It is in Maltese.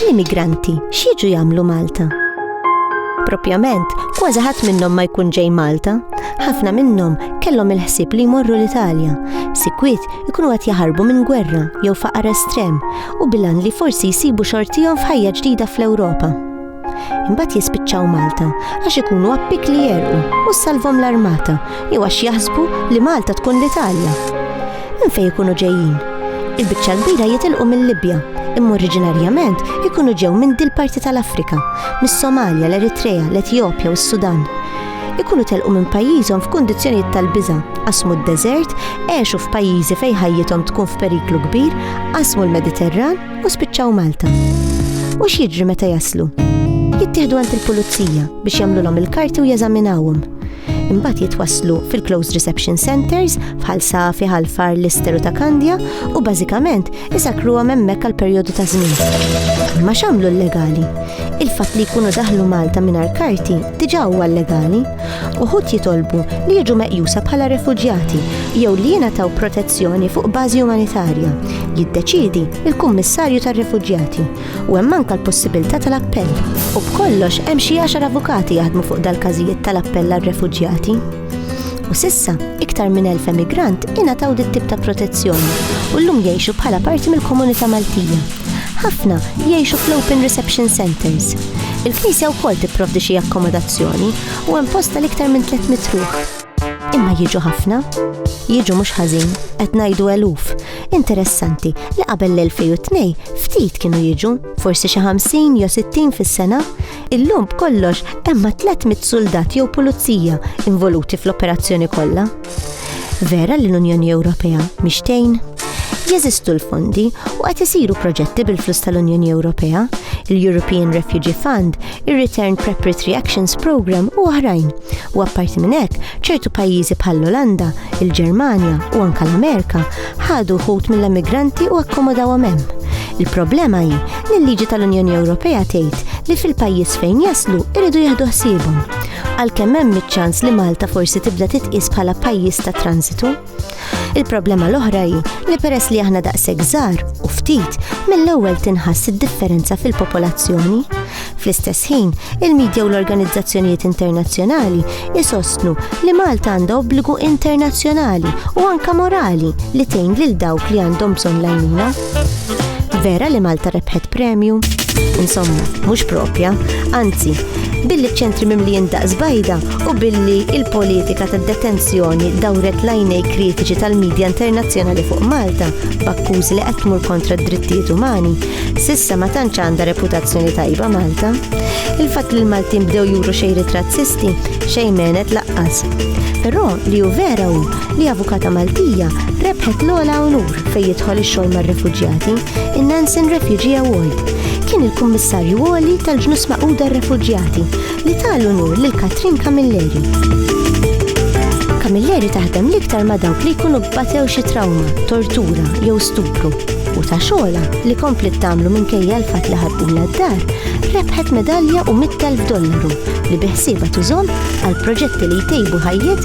L-immigranti x'jiġu jagħmlu Malta? Propjament, kważi ħadd minnhom ma jkun ġej Malta. Ħafna minnhom kellhom il-ħsieb li jmorru l-Italja. Sikwit ikunu qed jaħarbu minn gwerra jew faqar estrem u bilan li forsi jsibu xortihom f'ħajja ġdida fl-Ewropa. Imbagħad jispiċċaw Malta għax ikunu appik li jegħrqu u ssalvhom l-armata jew għax jaħsbu li Malta tkun l-Italja. Minn fejn ikunu ġejjin? Il-biċċa l-kbira jitilqu mil-Libja, imma oriġinarjament ikunu ġew minn dil-parti tal-Afrika, mis-Somalja, l-Eritrea, l-Etjopja u s-Sudan. Ikunu telqu minn pajjiżhom f'kundizzjonijiet tal-biża', qasmu d-deżert, għexu f'pajjiżi fejn ħajjithom tkun f'periklu kbir, qasmu l-Mediterran, u spiċċaw Malta. U x'jiġri meta jaslu? Jittieħdu għand il-pulizija biex jagħmlulhom il-karti u jeżaminawhom. Imbagħad jitwasslu fil-Closed Reception Centers bħal Safi, Ħalfar, Lister u ta' Kandja u bażikament isakruhom hemmhekk għal perjodu ta' żmien. Ma x'għamlu l-legali? Il-fatt li jkunu daħlu Malta mingħajr karti diġà huwa legali Uħud jitolbu li jiġu meqjusa bħala refuġjati jew li jingħataw protezzjoni fuq bażi umanitarja. Jiddeċidi il-Kummissarju tar-Refuġjati u hemm anke l-possibilità tal-appell. U b'kollox hemm xi għaxar avukati jaħdmu fuq dal-każijiet tal-appell għar-refuġjati. U sissa, iktar minn elf emigrant ingħataw dit tip ta' protezzjoni u llum jgħixu bħala parti mill-komunità Maltija. Ħafna jgħixu fl-Open Reception Centers Il-Knisja wkoll tipprovdi xi akkomodazzjoni u hemm posta l-iktar minn 300 ruħ. Imma jiġu ħafna? Jiġu mhux ħażin, qed ngħidu eluf. Interessanti li qabel l-2002 ftit kienu jiġu, forsi xi 50 jew 60 fis-sena. Illum b'kollox hemm 300 suldat jew pulizija involuti fl-operazzjoni kollha. Vera li l-Unjoni Ewropea mhix tgħin? Jeżistu l-fondi u qed isiru proġetti bil-flus tal-Unjoni Ewropea, il-European Refugee Fund, ir-Return Preparatory Actions Program u oħrajn. U apparti minn hekk, ċertu pajjiżi bħall-Olanda, il-Ġermanja u anke l-Amerika ħadu ħut mill-emigranti u akkomodawhom hemm. Il-problema hi li l-liġi tal-Unjoni Ewropea tgħid li fil-pajjiż fejn jaslu iridu jieħdu ħsiebhom. għalkemm hemm iċ-ċans li Malta forsi tibda titqies bħala pajjiż ta' transitu. Il-problema l-oħra hi li peress li aħna daqshekk żgħar u ftit mill-ewwel tinħass id-differenza fil-popolazzjoni. Fl-istess ħin, il-medja u l-organizzazzjonijiet internazzjonali isostnu li Malta għandha obbligu internazzjonali u anka morali li tgħin lil dawk li għandhom bżonn l-għajnuna. Vera li Malta rebħet premju? Insomma, mhux propja, anzi, billi ċentri mimlijin daqs bajda u billi il-politika tad detenzjoni dawret lajnej kritiċi tal-medja internazzjonali fuq Malta b'akkuż li qed tmur kontra d-drittijiet umani, sissa ma tantx għandha reputazzjoni tajba Malta. Il-fatt li l-Maltin bdew juru xejri razzisti xejn menet laqqas. Però li hu vera hu li avukata Maltija rebħet l-ola unur fejn jidħol ix-xogħol mar-refuġjati, in-Nansen Refugee Award. Kien il-Kummissarju Għoli tal-Ġnus Maquda Refuġjati li tal unur lil Katrin Camilleri. Camilleri taħdem l-iktar ma' dawk li jkunu bbatew xi trawma, tortura jew stupru u ta' xogħla li komplet tagħmlu minkejja l-fatt li ħaddula d-dar, rebħet medalja u 100,000 dollaru li biħsieba tużom għal proġetti li jtejbu ħajjiet